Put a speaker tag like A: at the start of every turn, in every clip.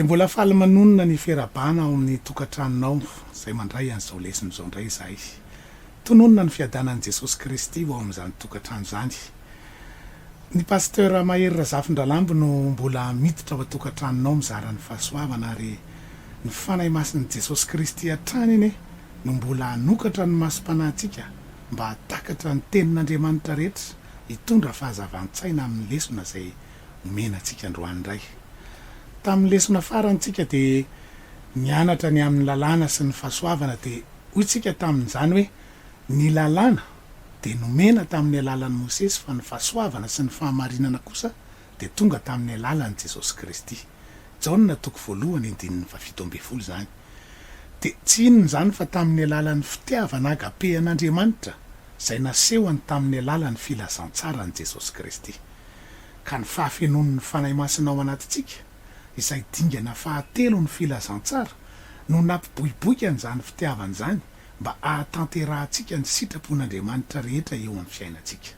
A: Dia mbola faly manonona ny fera-bana ao amin'ny tokantranonao izay mandray an'izao lesona izao indray izahay. Tononina ny fiadanan'i Jesosy Kristy ho ao amin'izany tokantrano izany. Ny Pasteur Mahery Razafindralambo no mbola miditra ao an-tokantranonao mizara ny fahasoavana ary ny Fanahy Masin'i Jesosy Kristy hatrany anie no mbola hanokatra ny masom-panahintsika mba hahatakatra ny Tenin'Andriamanitra rehetra hitondra fahazavan-tsaina amin'ny lesona izay omena antsika androany indray. Tamin'ny lesona farany isika dia nianatra ny amin'ny lalàna sy ny fahasoavana dia hoy isika tamin'izany hoe ny lalàna dia nomena tamin'ny alalan'i Mosesy fa ny fahasoavana sy ny fahamarinana kosa dia tonga tamin'ny alalan'i Jesosy Kristy. Jaona toko voalohany andininy fahafito ambin'ny folo izany. Dia tsy inona izany fa tamin'ny alalan'ny fitiavana agape an'Andriamanitra izay nasehony tamin'ny alalan'ny filazantsaran'i Jesosy Kristy. Ka ny fahafenoan'ny Fanahy Masina ao anatintsika, izay dingana fahatelon'ny filazantsara, no nampiboiboika an'izany fitiavana izany mba hahatanterahantsika ny sitrapon'Andriamanitra rehetra eo amin'ny fiainantsika.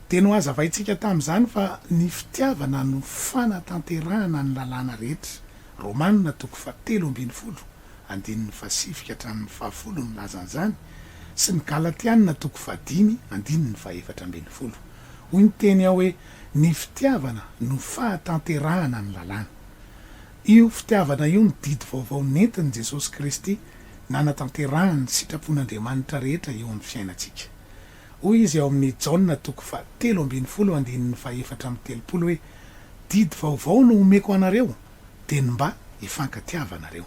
A: dia nohazavaintsika tamin'izany fa ny fitiavana no fanatanterahana ny lalàna rehetra, Romana toko fahatelo ambin'ny folo, andininy fahasivy ka hatramin'ny fahafolo milaza an'izany, sy ny Galatiana toko fahadimy, andininy fahefatra ambin'ny folo. Hoy ny teny ao hoe ny fitiavana no fahatanterahana ny lalàna. Io fitiavana io no didy vaovao nentin'i Jesosy Kristy nanatanterahany ny sitrapon'Andriamanitra rehetra eo amin'ny fiainantsika. Hoy izy ao amin'ny Jaona toko fahatelo ambin'ny folo andininy fahefatra amby telopolo hoe, Didy vaovao no omeko anareo, dia ny mba hifankatiavanareo.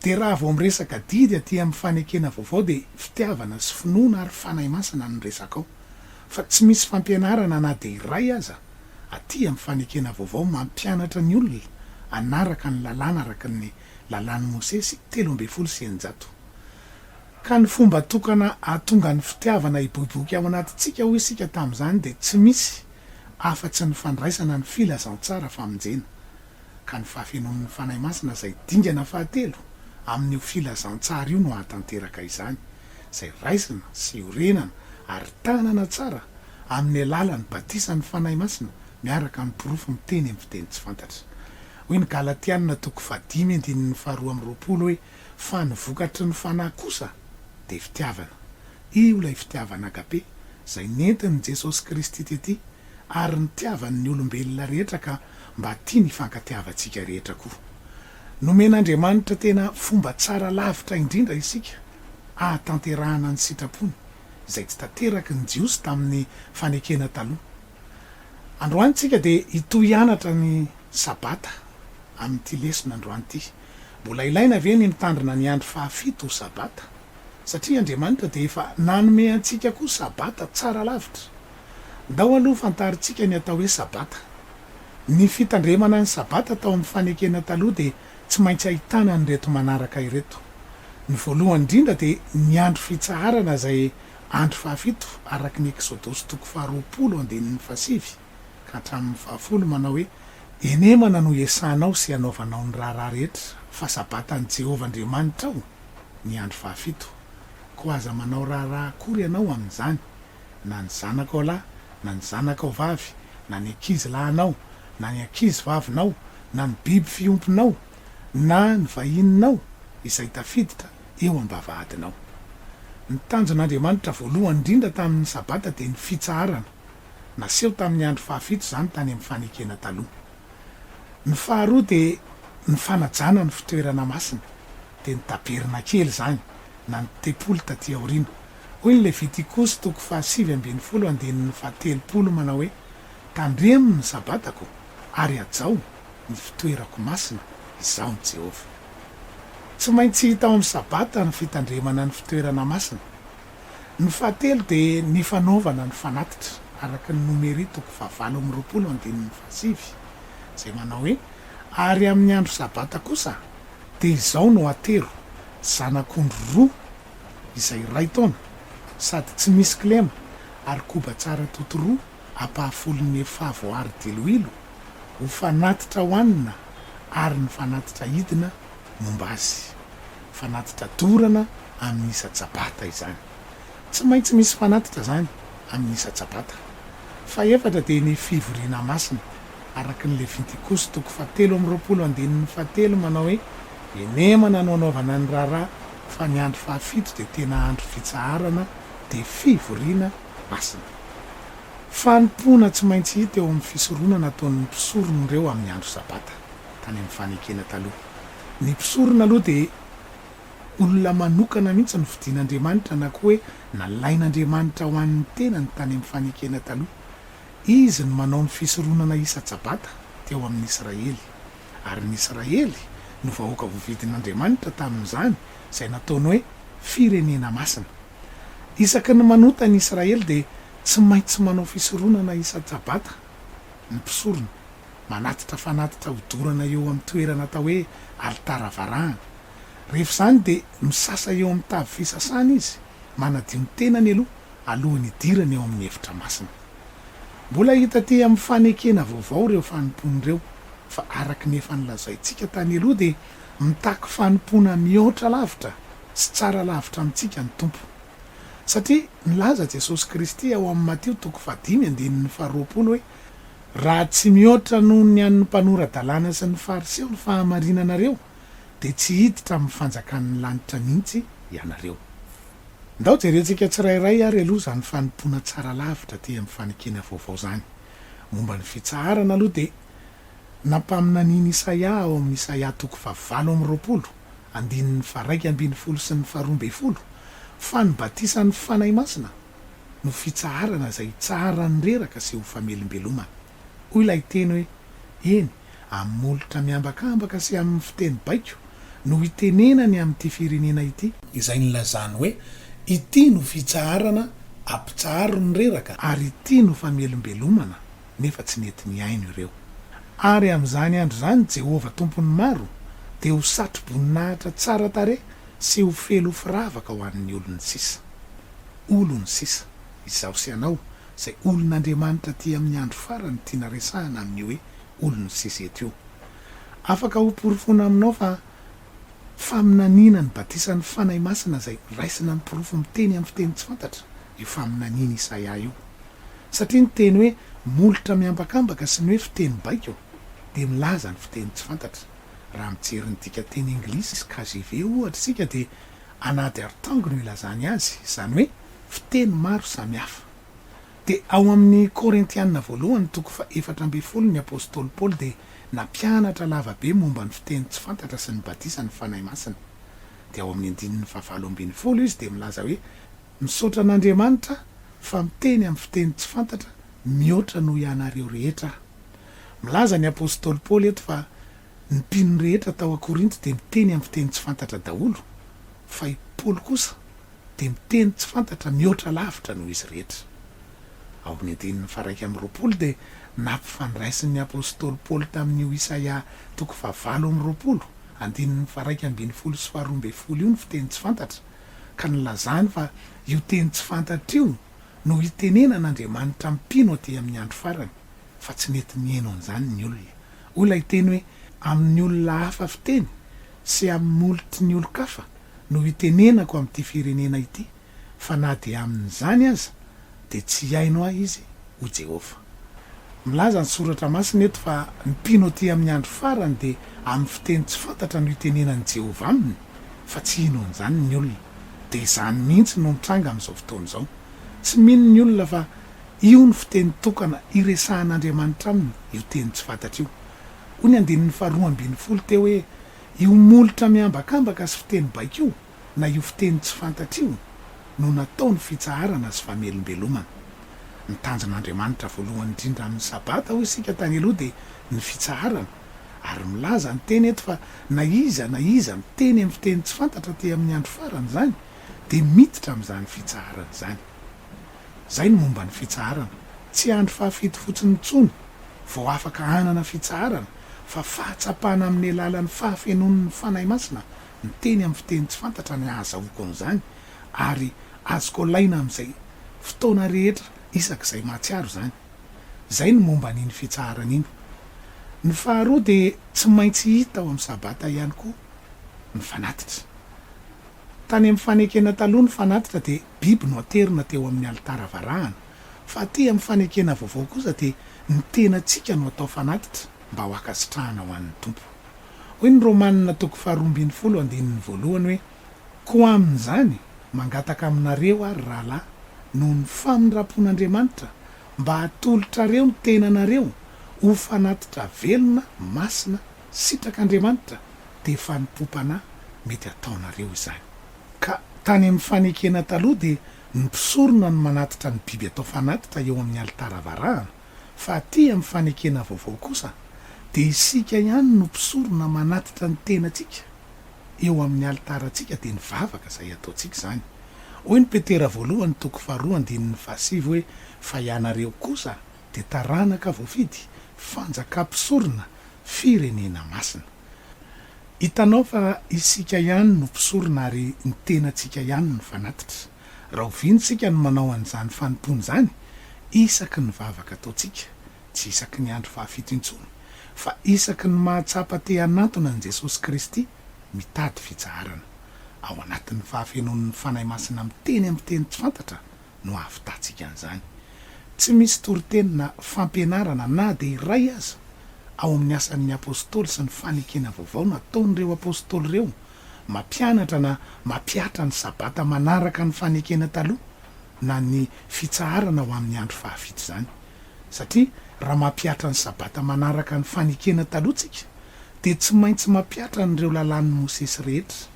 A: Dia raha vao miresaka didy aty amin'ny fanekena vaovao dia fitiavana sy finoana ary Fanahy Masina no resaka ao. Fa tsy misy fampianarana na dia iray aza aty amin'ny fanekena vaovao mampianatra ny olona hanaraka ny lalàna araka ny lalàn'i Mosesy telo ambin'ny folo sy eninjato Ka ny fomba tokana hahatonga ny fitiavana hiboiboika ao anatintsika hoy isika tamin'izany dia tsy misy afa-tsy ny fandraisana ny filazantsara famonjena, ka ny fahafenoan'ny Fanahy Masina izay dingana fahatelo amin'io filazantsara io no hahatanteraka izany, izay raisina sy orenana ary tanana tsara amin'ny alalan'ny batisan'ny Fanahy Masina miaraka amin'ny porofo miteny amin'ny fiteny tsy fantatra. Hoy ny Galatiana toko fahadimy andininy faharoa amby roapolo hoe. Fa ny vokatry ny Fanahy kosa dia fitiavana. Io ilay fitiavana agape izay nentin'i Jesosy Kristy tety ary nitiavany ny olombelona rehetra ka mba tiany hifankatiavantsika rehetra koa. Nomen'Andriamanitra tena fomba tsara lavitra indrindra isika ahatanterahana ny sitrapony izay tsy tanteraky ny Jiosy tamin'ny fanekena taloha. Androany isika dia hitohy hianatra ny Sabata amin'ity lesona androany ity. Mbola ilaina ve ny mitandrina ny andro fahafito ho Sabata? Satria Andriamanitra dia efa nanome antsika koa Sabata tsara lavitra. Ndao aloha fantarintsika ny atao hoe Sabata. Ny fitandremana ny Sabata tao amin'ny fanekena taloha dia tsy maintsy ahitana an'ireto manaraka ireto. Ny voalohany indrindra dia ny andro fitsaharana izay andro fahafito araka ny Eksodosy toko faharoapolo andininy fahasivy. hatramin'ny fahafolo manao hoe, Enemana no hiasanao sy hanaovanao ny raharaha rehetra, fa Sabatan'i Jehovah Andriamanitrao ny andro fahafito. Koa aza manao raharaha akory ianao amin'izany, na ny zanakao lahy, na ny zanakao vavy, na ny ankizy lahinao, na ny ankizy vavinao, na ny biby fiompinao, na ny vahininao izay tafiditra eo am-bavahadinao. Ny tanjon'Andriamanitra voalohany indrindra tamin'ny Sabata dia ny fitsaharana. Naseho tamin'ny andro fahafito izany tany amin'ny fanekena taloha. Ny faharoa dia ny fanajana ny fitoerana masina, dia ny tabernakely izany, na ny tempoly taty aoriana. Hoy ny Levitikosy toko fahasivy ambin'ny folo andininy fahatelopolo manao hoe, Tandremo ny Sabatako ary hajao ny fitoerako masina, Izaho ny Jehovah. Tsy maintsy hita ao amin'ny Sabata ny fitandremana ny fitoerana masina. Ny fahatelo dia ny fanaovana ny fanatitra, araka ny Nomery toko fahavalo amby roapolo andininy fahasivy, izay manao hoe, Ary amin'ny andro sabata kosa dia izao no atero, zanak'ondry roa, izay iray taona, sady tsy misy kilema, ary koba tsara atoto roa ampahafolon'ny efa voaaro diloilo, ho fanatitra hohanina, ary ny fanatitra hidina momba azy. fanatitra dorana amin'ny isa-tsabata izany. Tsy maintsy misy fanatitra izany amin'ny isa-tsabata. Fahefatra dia ny fivoriana masina, araka ny Levitikosy toko fahatelo amby roapolo andininy fahatelo manao hoe, Enemana no anaovana ny raharaha, fa ny andro fahafito dia tena andro fitsaharana, dia fivoriana masina. Fanompoana tsy maintsy hita eo amin'ny fisoronana ataon'ny mpisorona ireo amin'ny andro sabata, tany amin'ny Fanekena Taloha. Ny mpisorona aloha dia olona manokana mihitsy nofidin'Andriamanitra na koa hoe nalain'Andriamanitra ho an'ny tenany tany amin'ny fanekena taloha. Izy no manao ny fisoronana isa-tsabata teo amin'ny Israely. Ary ny Israely no vahoaka voavidin'Andriamanitra tamin'izany izay nataony hoe firenena masina. Isaky ny manota ny Israely dia tsy maintsy manao fisoronana isa-tsabata ny mpisorona. manatitra fanatitra hodorana eo amin'ny toerana atao hoe alitara varahana. Rehefa izany dia misasa eo amin'ny tavy fisasana izy, manadio ny tenany aloha alohan'ny hidirany ao amin'ny efitra masina. Mbola hita aty amin'ny fanekena vaovao ireo fanompoana ireo, fa araka ny efa nolazaintsika tany aloha dia mitaky fanompoana mihoatra lavitra sy tsara lavitra amintsika ny Tompo. Satria nilaza Jesosy Kristy ao amin'ny Matio toko fahadimy andinin'ny faharoapolo hoe. Raha tsy mihoatra noho ny an'ny mpanora-dalàna sy ny Fariseo ny fahamarinanareo, dia tsy hiditra amin'ny fanjakan'ny lanitra mihitsy ianareo. Ndao jerentsika tsirairay ary aloha izany fanompoana tsara lavitra aty amin'ny fanekena vaovao izany. Momba ny fitsaharana aloha dia nampaminanian'i Isaia ao amin'ny Isaia toko fahavalo amby roapolo, andininy faharaika ambin'ny folo sy ny faharoa ambin'ny folo, fa ny batisan'ny Fanahy Masina, no fitsaharana izay hitsaharan'ny reraka sy ho famelombelomana. Hoy ilay teny hoe, Eny, amin'ny molotra miambakambaka sy amin'ny fiteny baiko no itenenany amin'ity firenena ity, izay nilazany hoe, Ity no fitsaharana ampitsaharo ny reraka, ary ity no famelombelomana, nefa tsy nety nihaino ireo. Ary amin'izany andro izany Jehovah Tompon'ny maro dia ho satro-boninahitra tsara tarehy sy ho felofiravaka ho an'ny olony sisa. olony sisa, izaho sy ianao, izay olon'Andriamanitra aty amin'ny andro farany tiana resahana amin'io hoe olony sisa eto io. Afaka hoporofoina aminao fa faminaniana ny batisan'ny Fanahy Masina izay raisina amin'ny porofo miteny amin'ny fiteny tsy fantatra io faminanian'i Isaia io. Satria ny teny hoe molotra miambakambaka sy ny hoe fiteny baiko dia milaza ny fiteny tsy fantatra. Raha mijery ny dikanteny anglisy KJV ohatra isika dia An'ady arotango no ilazany azy, izany hoe fiteny maro samy hafa. Dia ao amin'ny Korintiana voalohany toko faha efatra ambin'ny folo ny apostoly Paoly dia nampianatra lava be momba ny fiteny tsy fantatra sy ny batisan'ny Fanahy Masina. Dia ao amin'ny andininy faha valo ambin'ny folo izy dia milaza hoe misaotra an'Andriamanitra fa miteny amin'ny fiteny tsy fantatra mihoatra noho ianareo rehetra aho. Milaza ny apostoly Paoly eto fa Ny mpino rehetra tao a-Korinto dia miteny amin'ny fiteny tsy fantatra daholo, fa i Paoly kosa dia miteny tsy fantatra mihoatra lavitra noho izy rehetra. Ao amin'ny andininy faha-iraika amby roapolo dia nampifandraisin'ny apostoly Paoly tamin'io Isaia toko fahavalo amby roapolo, andininy faha-iraika ambin'ny folo sy faharoa ambin'ny folo io ny fiteny tsy fantatra, ka nilazany fa io teny tsy fantatra io no hitenenan'Andriamanitra mpino aty amin'ny andro farany, fa tsy mety mihaino an'izany ny olona Hoy ilay teny hoe, Amin'ny olona hafa fiteny sy amin'ny molotry ny olon-kafa no hitenenako amin'ity firenena ity, fa na dia amin'izany aza, dia tsy hihaino ahy izy, hoy Jehovah. Milaza ny Soratra Masina eto fa ny mpino atỳ amin'ny andro farany dia amin'ny fiteny tsy fantatra no hitenenan'i Jehovah aminy, fa tsy hino an'izany ny olona. Dia izany mihitsy no mitranga amin'izao fotoana izao. Tsy mino ny olona fa Io no fiteny tokana iresahan'Andriamanitra aminy io teny tsy fantatra io. Hoy ny andininy faharoa ambin'ny folo teo hoe, Io molotra miambakambaka sy fiteny baiko io, na io fiteny tsy fantatra io, no nataony fitsaharana sy famelombelomana. Ny tanjon'Andriamanitra voalohany indrindra amin'ny Sabata, hoy isika tany aloha, dia ny fitsaharana. Ary milaza ny teny eto fa na iza na iza miteny amin'ny fiteny tsy fantatra aty amin'ny andro farany izany dia miditra amin'izany fitsaharana izany. Izay ny momba ny fitsaharana. Tsy andro fahafito fotsiny intsony vao afaka hanana fitsaharana fa fahatsapana amin'ny alalan'ny fahafenoan'ny Fanahy Masina miteny amin'ny fiteny tsy fantatra ny ahazahoako an'izany ary azoko alaina amin'izay fotoana rehetra isak'izay mahatsiaro izany. Izay ny momba an'iny fitsaharana iny. Ny faharoa dia tsy maintsy hita ao amin'ny Sabata ihany koa ny fanatitra. Tany amin'ny fanekena taloha ny fanatitra dia biby no aterina teo amin'ny alitara varahana, fa aty amin'ny fanekena vaovao kosa dia ny tenantsika no atao fanatitra mba ho ankasitrahana ho an'ny Tompo. Hoy ny Romanina toko faharoa ambin'ny folo andininy voalohany hoe, Koa amin'izany, mangataka aminareo aho, ry rahalahy, noho ny famindram-pon'Andriamanitra, mba hatolotrareo ny tenanareo ho fanatitra velona, masina, sitrak'Andriamanitra, dia fanompoam-panahy mety hataonareo izany. Ka tany amin'ny fanekena taloha dia ny mpisorona no manatitra ny biby atao fanatitra eo amin'ny alitara varahana, fa aty amin'ny fanekena vaovao kosa dia isika ihany no mpisorona manatitra ny tenantsika eo amin'ny alitarantsika dia ny vavaka izay ataontsika izany. Hoy ny Petera voalohany toko faharoa andininy fahasivy hoe fa ianareo kosa dia taranaka voafidy, fanjakam-pisorona, firenena masina. Hitanao fa isika ihany no mpisorona ary ny tenantsika ihany no fanatitra. Rahoviana isika no manao an'izany fanompoana izany? Isaky ny vavaka ataontsika, tsy isaky ny andro fahafito intsony, fa isaky ny mahatsapa te hanantona an'i Jesosy Kristy mitady fitsaharana. Ao anatin'ny fahafenoan'ny Fanahy Masina miteny amin'ny teny tsy fantatra no ahavitatsika an'izany. Tsy misy toriteny na fampianarana na dia iray aza ao amin'ny Asan'ny Apostoly sy ny Fanekena Vaovao nataon'ireo apostoly ireo mampianatra na mampihatra ny Sabata manaraka ny Fanekena Taloha na ny fitsaharana ho amin'ny andro fahavita izany. Satria raha mampihatra ny Sabata manaraka ny Fanekena Taloha isika dia tsy maintsy mampiatra an'ireo Lalàn'i Mosesy rehetra.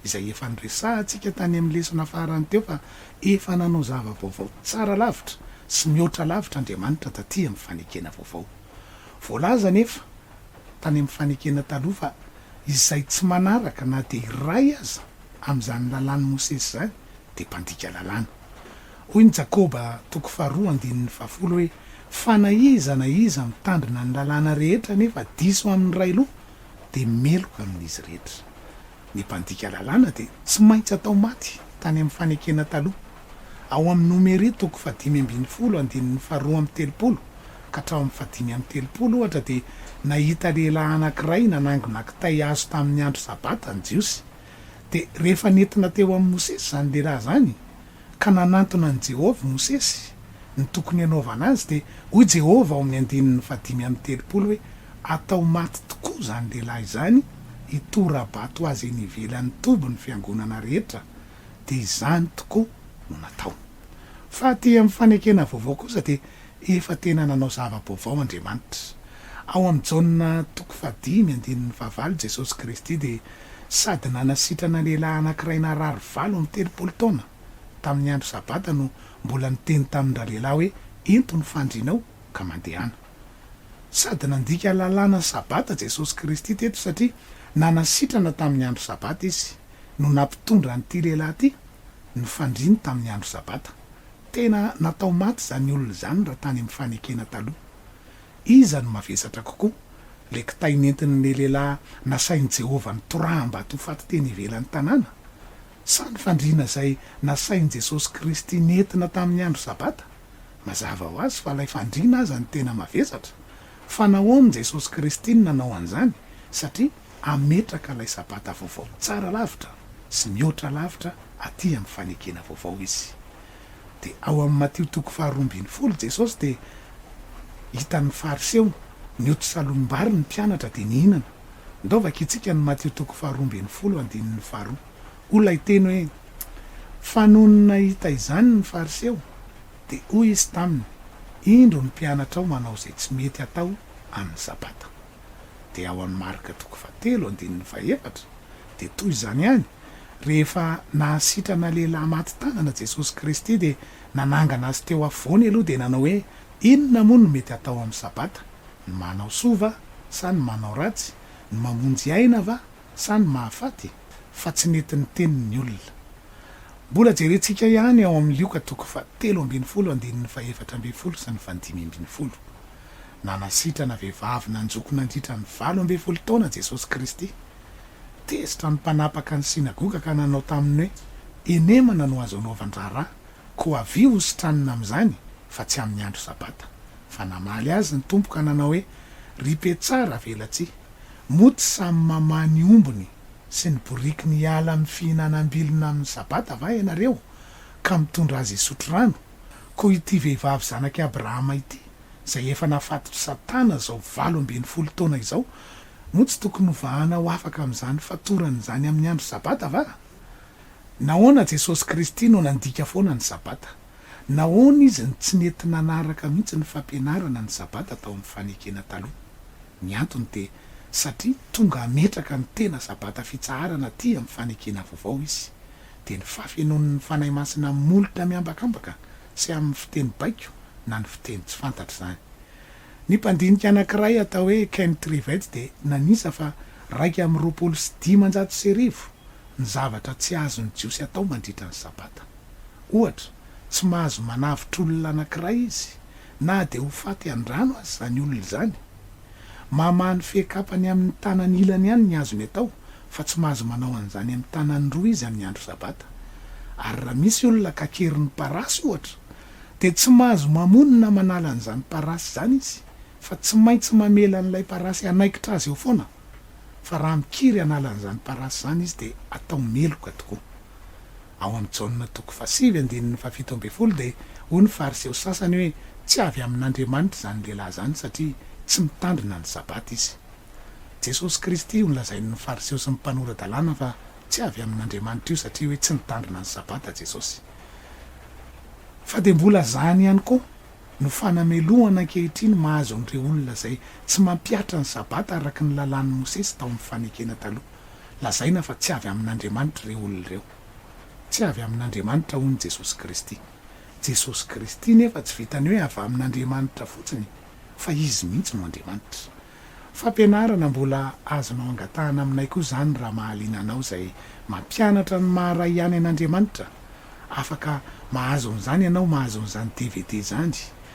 A: izay efa noresahantsika tany amin'ny lesona farany teo fa efa nanao zava-baovao tsara lavitra sy mihoatra lavitra Andriamanitra taty amin'ny fanekena vaovao. Voalaza anefa tany amin'ny fanekena taloha fa izay tsy manaraka na dia iray aza amin'izany lalàn'i Mosesy izany dia mpandika lalàna. Hoy ny Jakoba toko faharoa andininy fahafolo hoe, Fa na iza na iza mitandrina ny lalàna rehetra nefa diso amin'ny iray loha, dia meloka amin'izy rehetra. Ny mpandika lalàna dia tsy maintsy atao maty tany amin'ny fanekena taloha. Ao amin'ny Nomery toko fahadimy ambin'ny folo andininy faharoa amby telopolo ka hatrao amin'ny fahadimy amby telopolo, ohatra, dia nahita lehilahy anankiray nanangona kitay hazo tamin'ny andro Sabata ny Jiosy. Dia rehefa nentina teo amin'i Mosesy izany lehilahy izany, Ka nanantona an'i Jehovah i Mosesy ny tokony hanaovana azy, dia hoy Jehovah ao amin'ny andininy fahadimy amby telopolo hoe, Atao maty tokoa izany lehilahy izany, hitora-bato azy eny ivelan'ny toby ny fiangonana rehetra. Dia izany tokoa no nataony. Fa aty amin'ny fanekena vaovao kosa dia Efa tena nanao zava-baovao Andriamanitra. Ao amin'i Jaona toko fahadimy andininy fahavalo Jesosy Kristy dia sady nanasitrana lehilahy anankiray narary valo amby telopolo taona tamin'ny andro sabata no mbola niteny tamin'ny ralehilahy hoe ento ny fandrinao ka mandehana. Sady nandika lalàna sabata Jesosy Kristy teto satria nanasitrana tamin'ny andro sabata izy no nampitondra an'ity lehilahy ity ny fandriny tamin'ny andro sabata. Tena natao maty izany olona izany raha tany amin'ny fanekena taloha. Iza no mavesatra kokoa, ilay kitay nentin'ilay lehilahy nasain'i Jehovah nitoraham-bato ho faty teny ivelan'ny tanàna, sa ny fandriana izay nasain'i Jesosy Kristy nentina tamin'ny andro Sabata? Mazava ho azy fa ilay fandriana aza no tena mavesatra. Fa nahoana i Jesosy Kristy no nanao an'izany? Satria. hametraka ilay Sabata vaovao tsara lavitra sy mihoatra lavitra aty amin'ny fanekena vaovao izy. Dia ao amin'ny Matio toko faharoa ambin'ny folo Jesosy dia hitan'ny Fariseo nioty salom-bary ny mpianatra dia nihinana. Ndao vakintsika ny Matio toko faharoa ambin'ny folo andininy faharoa. Hoy ilay teny hoe, Fa nony nahita izany ny Fariseo, dia hoy izy taminy, Indro ny mpianatrao manao izay tsy mety atao amin'ny Sabata. dia ao amin'ny Marka toko fahatelo andininy fahefatra dia toy izany ihany, rehefa nahasitrana lehilahy maty tanana Jesosy Kristy dia nanangana azy teo afovoany aloha dia nanao hoe, inona moa no mety hatao amin'ny sabata? ny manao soa va sa ny manao ratsy? ny mamonjy aina va sa ny mahafaty? fa tsy nety niteny ny olona. Mbola jerentsika ihany ao amin'ny Lioka toko fahatelo ambin'ny folo andininy fahefatra ambin'ny folo sy ny fahadimy ambin'ny folo. Nanasitrana vehivavy nanjoko nandritra ny valo ambin'ny folo taona Jesosy Kristy. Tezitra ny mpanapaka ny synagoga ka nanao taminy hoe, Henemana no azo anaovan-draharaha, koa avia hositranina amin'izany fa tsy amin'ny andro Sabata. Fa namaly azy ny Tompo ka nanao hoe, Ry mpetsara velatsihy, moa tsy samy mamaha ny ombiny sy ny borikiny hiala amin'ny fihinanam-bilona amin'ny Sabata va ianareo, ka mitondra azy hisotro rano, koa ity vehivavy zanak'i Abrahama ity? izay efa nafatotr'i Satana izao valo ambin'ny folo taona izao, moa tsy tokony hovahana ho afaka amin'izany fatorany izany amin'ny andro Sabata va? Nahoana Jesosy Kristy no nandika foana ny Sabata? Nahoana Izy no tsy nety nanaraka mihitsy ny fampianarana ny Sabata tao amin'ny Fanekena Taloha? Ny antony dia satria tonga hametraka ny tena Sabata fitsaharana aty amin'ny Fanekena Vaovao Izy. Dia ny fahafenoan'ny Fanahy Masina molotra miambakambaka tsy amin'ny fiteny baiko na ny fiteny tsy fantatra izany. Ny mpandinika anankiray atao hoe Ken Trivett dia nanisa fa iraika amby roapolo sy dimanjato sy arivo ny zavatra tsy azon'ny Jiosy atao mandritra ny Sabata. Ohatra, tsy mahazo manavotra olona anankiray izy, na dia ho faty an-drano aza izany olona izany. Mamaha ny fehin-kapany amin'ny tanany ilany ihany ny azony atao, fa tsy mahazo manao an'izany amin'ny tanany roa izy amin'ny andro sabata, ary raha misy olona ka kery ny parasy, ohatra, dia tsy mahazo mamono na manala an'izany parasy izany izy, fa tsy maintsy mamela an'ilay parasy hanaikitra azy eo foana, fa raha mikiry hanala an'izany parasy izany izy dia atao meloka tokoa. Ao amin'i Jaona toko fahasivy andininy fahafito ambin'ny folo dia hoy ny Fariseo sasany hoe tsy avy amin'Andriamanitra izany lehilahy izany satria tsy mitandrina ny sabata izy. Jesosy Kristy io nolazain'ny Fariseo sy ny mpanora-dalàna fa tsy avy amin'Andriamanitra io satria hoe tsy nitandrina ny Sabata Jesosy. Fa dia mbola izany ihany koa no fanamelohana ankehitriny mahazo an'ireo olona izay tsy mampihatra ny Sabata araka ny Lalàn'i Mosesy tao amin'ny Fanekena Taloha. Lazaina fa tsy avy amin'Andriamanitra ireo olona ireo. Tsy avy amin'Andriamanitra hono Jesosy Kristy. Jesosy Kristy nefa tsy vitan'ny hoe avy amin'Andriamanitra fotsiny fa Izy mihitsy no Andriamanitra. Fampianarana mbola azonao angatahana aminay koa izany raha mahaliana anao izay mampianatra ny maha Ray ihany an'Andriamanitra. Afaka mahazo an'izany ianao mahazo an'izany dvd izany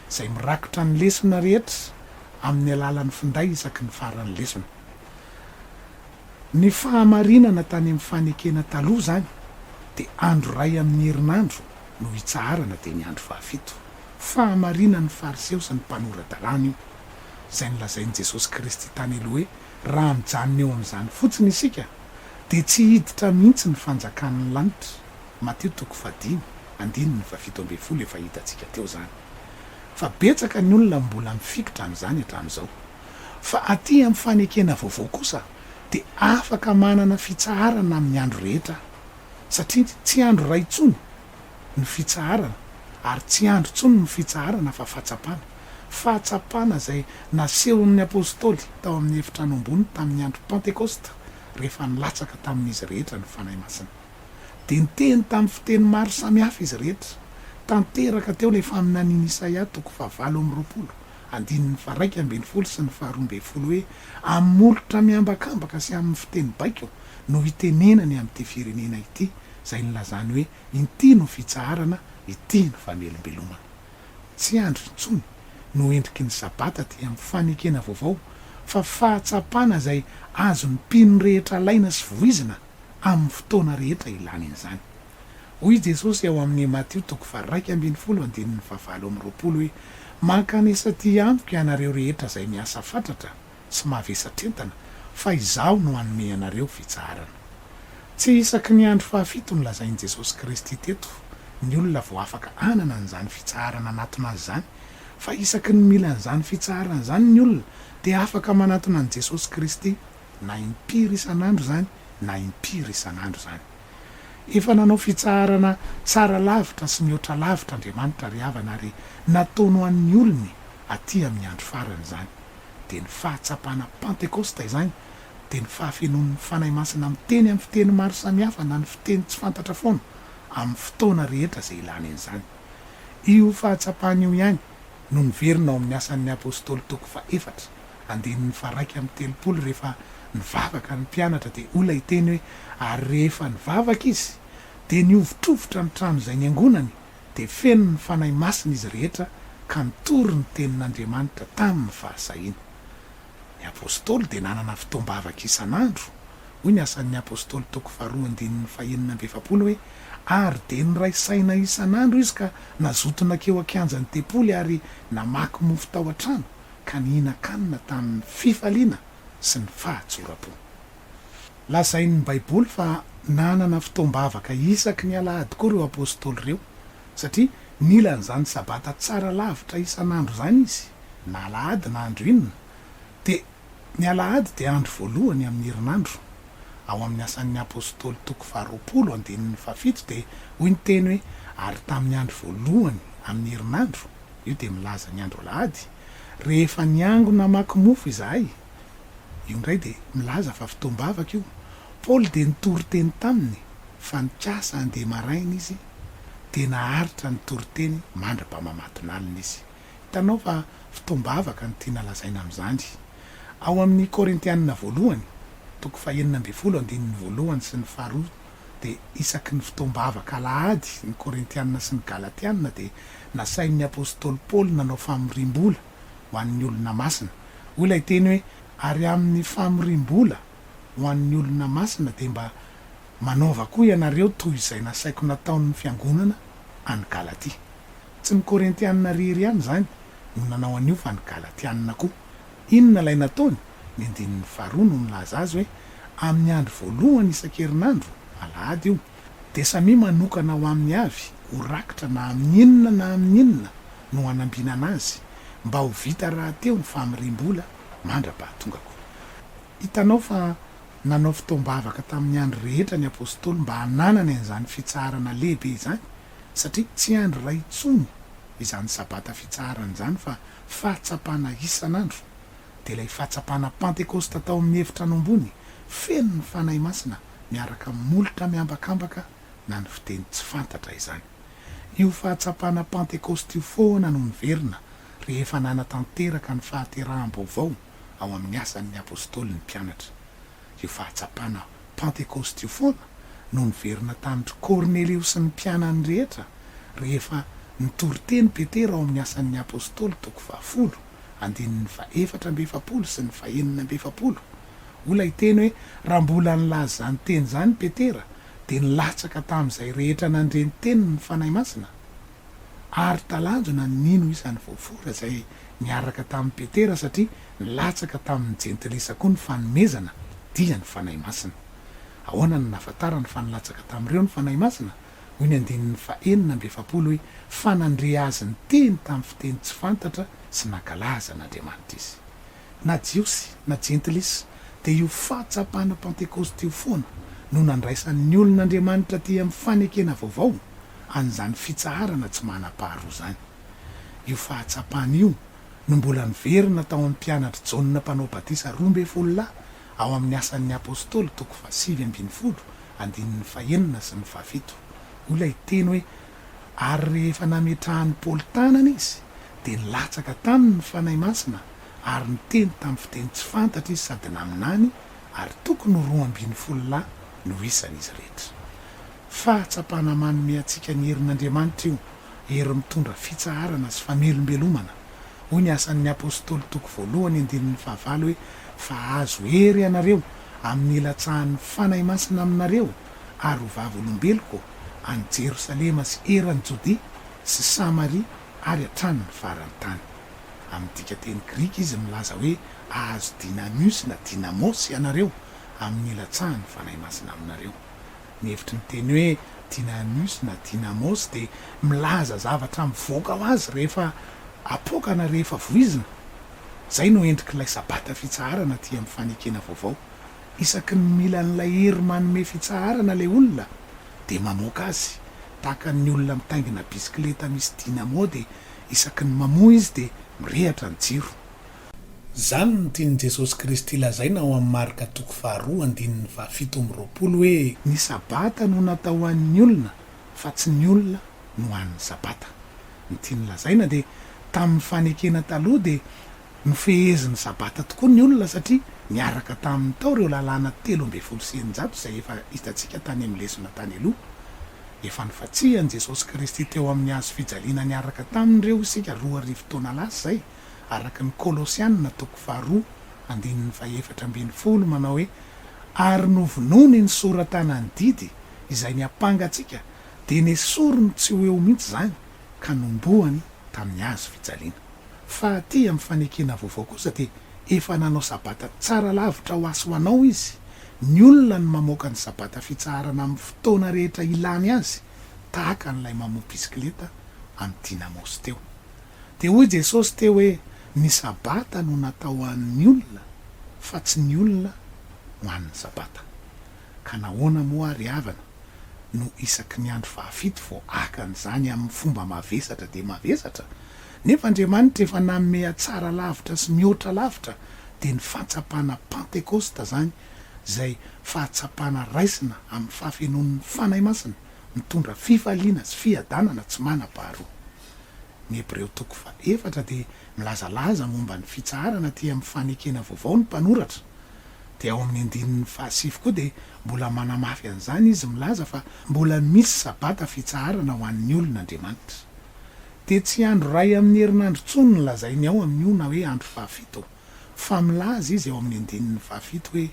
A: izay mirakitra ny lesona rehetra amin'ny alalan'ny finday isaky ny faran'ny lesona. Ny fahamarinana tany amin'ny fanekena taloha izany dia andro iray amin'ny herinandro no itsaharana dia ny andro fahafito. Fahamarinan'ny Fariseo sy ny mpanora-dalàna io. izay nolazain'i Jesosy Kristy tany aloha hoe raha mijanona eo amin'izany fotsiny isika dia tsy hiditra mihitsy ny fanjakan'ny lanitra, Matio toko fahadimy, andininy fahafito ambin'ny folo, efa hitantsika teo izany fa betsaka ny olona mbola mifikitra amin'izany hatramin'izao. Fa aty amin'ny fanekena vaovao kosa dia afaka manana fitsaharana amin'ny andro rehetra satria tsy andro iray intsony ny fitsaharana ary tsy andry intsony ny fitsaharana fa fahatsapana. Fahatsapana izay nasehon'ny apostoly tao amin'ny efitrano ambony tamin'ny andro Pantekosta rehefa nilatsaka tamin'izy rehetra ny Fanahy Masina. Dia niteny tamin'ny fiteny maro samihafa izy rehetra. Tanteraka teo ilay faminanian'i Isaia toko fahavalo amby roapolo, andininy faharaika ambin'ny folo sy ny faharoa ambin'ny folo hoe, Amin'ny molotra miambakambaka sy amin'ny fiteny baiko no hitenenany amin'ity firenena ity, izay nilazany hoe inty no fitsaharana, ity no famelombelomana. Tsy andro intsony no endriky ny Sabata aty amin'ny fanekena vaovao fa fahatsapana izay azon'ny mpino rehetra alaina sy voizina amin'ny fotoana rehetra ilany an'izany. Hoy i Jesosy ao amin'ny Matio toko faha-iraika ambin'ny folo andininy fahavalo amby roapolo hoe, Mankanesa aty amiko ianareo rehetra izay miasa fatratra, tsy mavesa-tentana fa Izaho no hanome anareo fitsaharana. Tsy isaky ny andro fahafito nolazain'i Jesosy Kristy teto ny olona vao afaka hanana an'izany fitsaharana hanatona Azy izany, fa isaky ny mila an'izany fitsaharana izany ny olona dia afaka manatona an'i Jesosy Kristy na impiry isan'andro izany na impiry isan'andro izany. Efa nanao fitsaharana tsara lavitra sy mihoatra lavitra Andriamanitra ry havana ary nataony ho an'ny olony aty amin'ny andro farany izany. dia ny fahatsapana Pantekosta izany dia ny fahafenoan'ny Fanahy Masina miteny amin'ny fiteny maro samihafa na ny fiteny tsy fantatra foana amin'ny fotoana rehetra izay ilana an'izany. Io fahatsapana io ihany no niverina ao amin'ny Asan'ny Apostoly toko fahefatra, andininy faharaika amby telopolo rehefa nivavaka ny mpianatra dia hoy ilay teny hoe ary rehefa nivavaka izy dia nihovitrovitra ny trano izay niangonany dia feno ny Fanahy Masina izy rehetra ka nitory ny Tenin'Andriamanitra tamin'ny fahasahiana. Ny Apôstôly dia nanana fotoam-bavaka isan'andro, hoy ny Asan'ny Apôstôly toko faharoa andininy fahenina amby efapolo hoe, Ary dia niray saina isan'andro izy ka nazoto nankeo an-kianjan'ny tempoly ary namaky mofo tao an-trano ka nihinan-kanina tamin'ny fifaliana sy ny fahatsoram-po. Lazain'ny Baiboly fa nanana fotoam-bavaka isaky ny alahady koa ireo apostoly ireo, satria nila an'izany Sabata tsara lavitra isan'andro izany izy, na alahady na andro inona, dia ny alahady dia andro voalohany amin'ny herinandro. Ao amin'ny Asan'ny Apostoly toko faharoapolo andininy fahafito dia hoy ny teny hoe ary tamin'ny andro voalohany amin'ny herinandro, io dia milaza ny andro alahady, rehefa niangona hamaky mofo izahay, Io indray dia milaza fa fotoam-bavaka io. Paoly dia nitory teny taminy fa nikasa handeha maraina izy dia naharitra nitory teny mandra-pamamatonalina izy. Hitanao fa fotoam-bavaka no tiana lazaina amin'izany. Ao amin'ny Korintianina voalohany, toko fahenina ambin'ny folo andininy voalohany sy ny faharoa dia isaky ny fotoam-bavaka alahady ny Korintianina sy ny Galatianina dia nasain'ny apostoly Paoly nanao famoriam-bola ho an'ny olona masina. Hoy ilay teny hoe, Ary amin'ny famoriam-bola ho an'ny olona masina dia mba manaova koa ianareo toy izay nasaiko nataon'ny fiangonana any Galatia. Tsy ny Korintianina irery ihany izany no nanao an'io fa ny Galatianina koa. Inona ilay nataony? Ny andininy faharoa no milaza azy hoe, Amin'ny andro voalohany isan-kerinandro, alahady io, dia samia manokana ho aminy avy ho rakitra na amin'ny inona na amin'ny inona no hanambinana azy mba ho vita rahateo ny famiriam-bola mandra-pahatongako. Hitanao fa nanao fotoam-bavaka tamin'ny andro rehetra ny Apostoly mba hananany an'izany fitsaharana lehibe izany, satria tsy andro iray intsony izany Sabata fitsaharana izany fa fahatsapana isan'andro, dia ilay fahatsapana Pantekosta tao amin'ny Efitrano Ambony feno ny Fanahy Masina miaraka amin'ny molotra miambakambaka na ny fiteny tsy fantatra izany. Io fahatsapana Pantekosta io foana no niverina rehefa nanatanteraka ny fahateraham-baovao ao amin'ny Asan'ny Apôstôly ny mpianatra. Io fahatsapana Pantekosta io foana no niverina tamin-dry Kornelio sy ny mpianany rehetra rehefa nitory teny Petera ao amin'ny Asan'ny Apôstôly toko fahafolo. andininy fahefatra amby efapolo sy ny fahenina amby efapolo. Moa ilay teny hoe raha mbola nilaza izany teny izany Petera dia nilatsaka tamin'izay rehetra nandre ny teniny ny Fanahy Masina? Ary talanjona ny nino isany voafora izay niaraka tamin'i Petera satria nilatsaka tamin'ny Jentilisa koa ny fanomezana dia ny Fanahy Masina. Ahoana no nahafantarany fa nilatsaka tamin'ireo ny Fanahy Masina? hoy ny andininy fahenina amby efapolo hoe, Fa nandre azy niteny tamin'ny fiteny tsy fantatra sy nankalaza an'Andriamanitra izy. Na Jiosy na Jentilisa, dia io fahatsapana Pantekosta io foana no nandraisan'ny olon'Andriamanitra aty amin'ny fanekena vaovao an'izany fitsaharana tsy manam-paharoa izany. Io fahatsapana io no mbola niverina tao amin'ny mpianatr'i Jaona Mpanao Batisa roa ambin'ny folo lahy Ao amin'ny Asan' ny Apôstôly, toko fahasivy ambin'ny folo, andininy fahenina sy ny fahafito, hoy ilay teny hoe, Ary rehefa nametrahan'i Paoly tanana izy, dia nilatsaka taminy ny Fanahy Masina, ary niteny tamin'ny fiteny tsy fantatra izy sady naminany, ary tokony ho roa ambin'ny folo lahy no isan'izy rehetra. Fahatsapana manome antsika ny herin' Andriamanitra io. hery mitondra fitsaharana sy famelombelomana, hoy ny Asan' ny Apôstôly toko voalohany andininy fahavalo hoe, Fa azo hery ianareo amin' ny ilatsahan' ny Fanahy Masina aminareo, ary ho vavolombeloko any Jerosalema sy eran' i Jodia sy Samaria ary hatrany ny faran' ny tany. Amin' ny dikan-teny grika izy milaza hoe ahazo dinamios na dinamos ianareo amin' ny ilatsahan' ny Fanahy Masina aminareo. Ny hevitry ny teny hoe Dynanus na Dynamos dia milaza zavatra mivoaka ho azy rehefa apoaka na rehefa voizina. Izay no endrik'ilay Sabata fitsaharana aty amin'ny Fanekena Vaovao. Isaky ny mila an'ilay hery manome fitsaharana ilay olona dia mamoaka azy. Tahaka ny olona mitaingina bisikileta misy dynamo dia isaky ny mamoa izy dia mirehatra ny jiro. Izany no tian'i Jesosy Kristy lazaina ao amin'ny Marka toko faharoa andininy fahafito amby roapolo hoe. Ny Sabata no natao ho an'ny olona fa tsy ny olona no an'ny Sabata. Ny tiany lazaina dia tamin'ny fanekena taloha dia nofehezin'ny Sabata tokoa ny olona satria niaraka taminy tao ireo lalàna telo ambin'ny folo sy eninjato izay efa hitantsika tany amin'ny lesona tany aloha. Efa nifantsihan'i Jesosy Kristy teo amin'ny hazo fijaliana niaraka taminy ireo isika roa arivo taona lasa izay. araka ny Kolosiana toko faharoa andininy fahefatra ambin'ny folo manao hoe, Ary novonoiny ny soratana ny didy izay niampanga antsika, dia nesoriny tsy ho eo mihitsy izany ka nombohany tamin'ny hazo fijaliana. Fa aty amin'ny fanekena vaovao kosa dia efa nanao Sabata tsara lavitra ho asy ho anao izy, ny olona no mamoaka ny Sabata fitsaharana amin'ny fotoana rehetra ilany azy, tahaka an'ilay mamoha bisikileta amin'ny Dynamos teo. Dia hoy Jesosy teo hoe ny sabata no natao ho an'ny olona fa tsy ny olona ho an'ny sabata. Ka nahoana moa ary havana no isaky ny andro fahafito vao haka an'izany amin'ny fomba mavesatra dia mavesatra? Nefa Andriamanitra efa nanome hatsara lavitra sy mihoatra lavitra dia ny fahatsapana Pantekosta izany izay fahatsapana raisina amin'ny fahafenoan'ny Fanahy Masina mitondra fifaliana sy fiadanana tsy manam-paharoa. Ny Hebreo toko faha efatra dia milazalaza momba ny fitsaharana aty amin'ny fanekena vaovao ny mpanoratra. Dia ao amin'ny andininy faha sivy koa dia mbola manamafy an'izany izy milaza fa mbola misy sabata fitsaharana ho an'ny olona Andriamanitra. Dia tsy andro iray amin'ny herinandro intsony no lazainy ao amin'io na hoe andro faha fito fa milaza izy ao amin'ny andininy faha fito hoe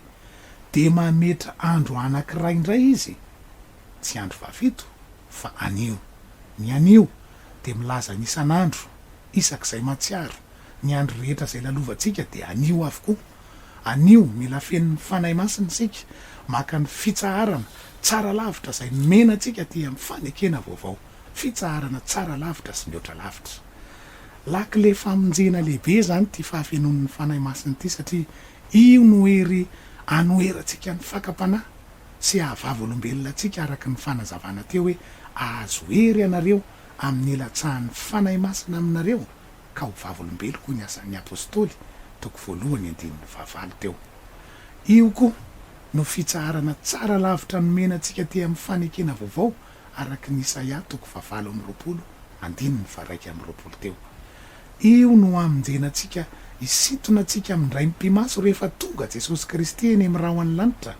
A: dia mametra andro anankiray indray izy tsy andro fahafito fa anio. Ny anio dia milaza ny isan'andro, isak'izay mahatsiaro. Ny andro rehetra izay lalovantsika dia anio avokoa. Anio, mila feno ny Fanahy Masina isika, maka ny fitsaharana tsara lavitra izay nomena antsika aty amin'ny fanekena vaovao, fitsaharana tsara lavitra sy mihoatra lavitra. Lakile famonjena lehibe izany ity fahafenoan'ny Fanahy Masina ity satria io no hery anoherantsika ny fakam-panahy sy haha-vavolombelona antsika araka ny fanazavana teo hoe, Ahazo hery ianareo amin'ny hilatsahan'ny Fanahy Masina aminareo, ka ho vavolombeloko hoy ny Asan'ny Apostoly, toko voalohany andininy fahavalo teo. Io koa no fitsaharana tsara lavitra nomena antsika te amin'ny fanekena vaovao araka ny Isaia toko fahavalo amby roapolo andininy faharaika amby roapolo teo. Io no hamonjena antsika, hisintona antsika amindray mipi-maso rehefa tonga Jesosy Kristy eny amin'ny rahon'ny lanitra,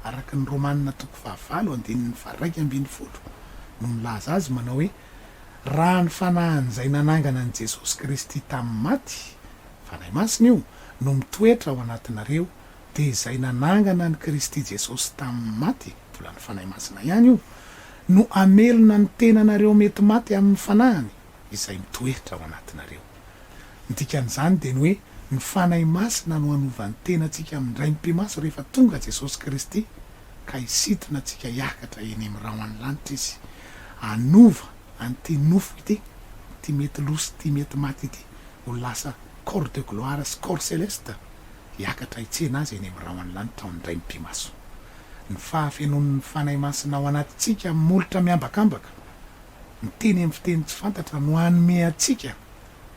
A: araka ny Romanina toko fahavalo andininy faharaika ambin'ny folo no milaza azy manao hoe, Raha ny fanahin'izay nanangana an'i Jesosy Kristy tamin'ny maty, Fanahy Masina io, no mitoetra ao anatinareo, dia izay nanangana an'i Kristy Jesosy tamin'ny maty, mbola ny Fanahy Masina ihany io, no hamelona ny tenanareo mety maty amin'ny fanahiny. izay mitoetra ao anatinareo. Ny dikan'izany dia ny hoe ny Fanahy Masina no hanova ny tenantsika amin'ny Ray Mpimasy rehefa tonga Jesosy Kristy ka hisintona antsika hiakatra eny amin'ny rahon'ny lanitra Izy hanova an'ity nofo ity, ity mety lo sy ity mety maty ity ho lasa corps de gloire sy corps céleste hiakatra hitsena Azy eny amin'ny rahon'ny lanitra ao ny Ray Mpimaso. Ny fahafenoan'ny Fanahy Masina ao anatintsika amin'ny molotra miambakambaka. miteny amin'ny fiteny tsy fantatra no hanome antsika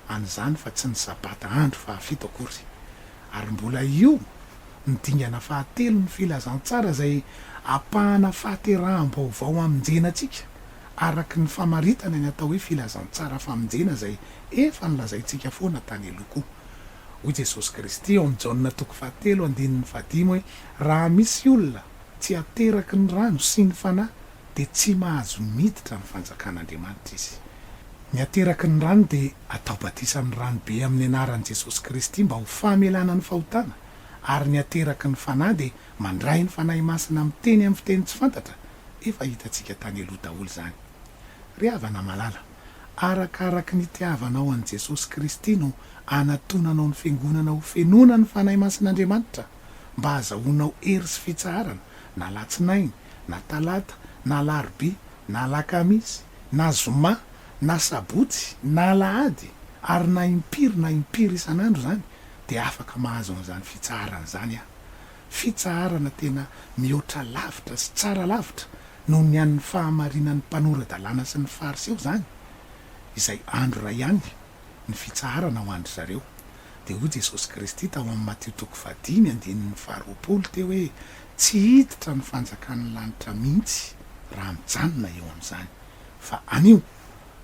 A: an'izany fa tsy ny Sabata andro fahafito akory. Ary mbola io ny dingana fahatelon'ny filazantsara izay ampahana fahateraham-baovao hamonjena antsika araka ny famaritana ny atao hoe filazantsara famonjena izay efa nolazaintsika foana tany aloha koa. Hoy Jesosy Kristy ao amin'ny Jaona toko fahatelo andininy fahadimy hoe raha misy olona tsy ateraky ny rano sy ny Fanahy dia tsy mahazo miditra ny fanjakan'Andriamanitra izy. Ny ateraky ny rano dia atao batisa amin'ny rano be amin'ny anaran'i Jesosy Kristy mba ho famelana ny fahotana, ary ny ateraky ny Fanahy dia mandray ny Fanahy Masina miteny amin'ny fiteny tsy fantatra, efa hitantsika tany aloha daholo izany. Ry havana malala, arakaraky ny itiavanao an'i Jesosy Kristy no anatonanao ny Fiangonana ho fenona ny Fanahy Masin'Andriamanitra mba hazahoanao hery sy fitsaharana, na latsinainy, na talata, na alarobia, na alakamisy, na zoma, na sabotsy, na alahady, ary na impiry na impiry isan'andro izany, dia afaka mahazo an'izany fitsaharana izany aho, fitsaharana tena mihoatra lavitra sy tsara lavitra noho ny an'ny fahamarinan'ny mpanora-dalàna sy ny Fariseo izany, izay andro iray ihany. ny fitsaharana ho an-dry zareo. Dia hoy Jesosy Kristy tao amin'ny Matio toko fahadimy andininy faharoapolo teo hoe, Tsy hiditra ny fanjakan'ny lanitra mihitsy raha mijanona eo amin'izany. Fa anio!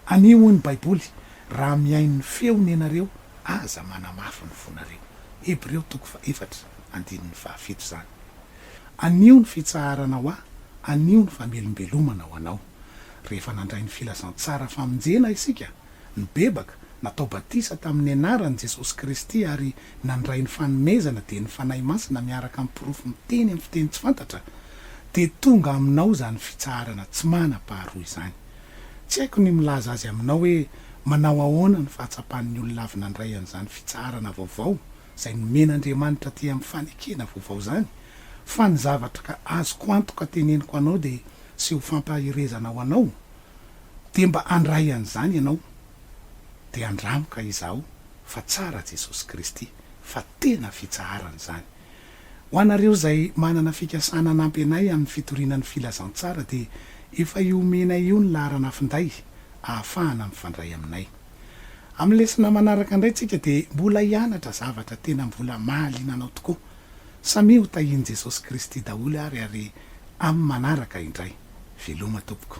A: Anio, hoy ny Baiboly, raha mihaino ny feony ianareo, aza manamafy ny fonareo. Hebreo toko fahefatra andininy fahafito izany. Anio ny fitsaharana ho ahy, anio ny famelombelomana ho anao. Rehefa nandray ny filazantsara famonjena isika, nibebaka, natao batisa tamin'ny anaran'i Jesosy Kristy ary nandray ny fanomezana dia ny Fanahy Masina miaraka amin'ny porofo miteny amin'ny fiteny tsy fantatra, dia tonga aminao izany fitsaharana tsy manam-paharoa izany. Tsy haiko ny milaza azy aminao hoe manao ahoana ny fahatsapan'ny olona avy nandray an'izany fitsaharana vaovao izay nomen'Andriamanitra aty amin'ny fanekena vaovao izany, fa ny zavatra azoko antoka teneniko anao dia sy ho fampaherezana ho anao, dia mba handray an'izany ianao dia andramo ka izaho fa tsara Jesosy Kristy fa tena fitsaharana izany. Ho anareo izay manana fikasana hanampy anay amin'ny fitoriana ny filazantsara dia efa io omenay io ny laharana finday ahafahana mifandray aminay. Amin'ny lesona manaraka indray tsika dia mbola hianatra zavatra tena mbola mahaliana anao tokoa. Samia ho tahian'i Jesosy Kristy daholo ary ary amin'ny manaraka indray. Veloma tompoko.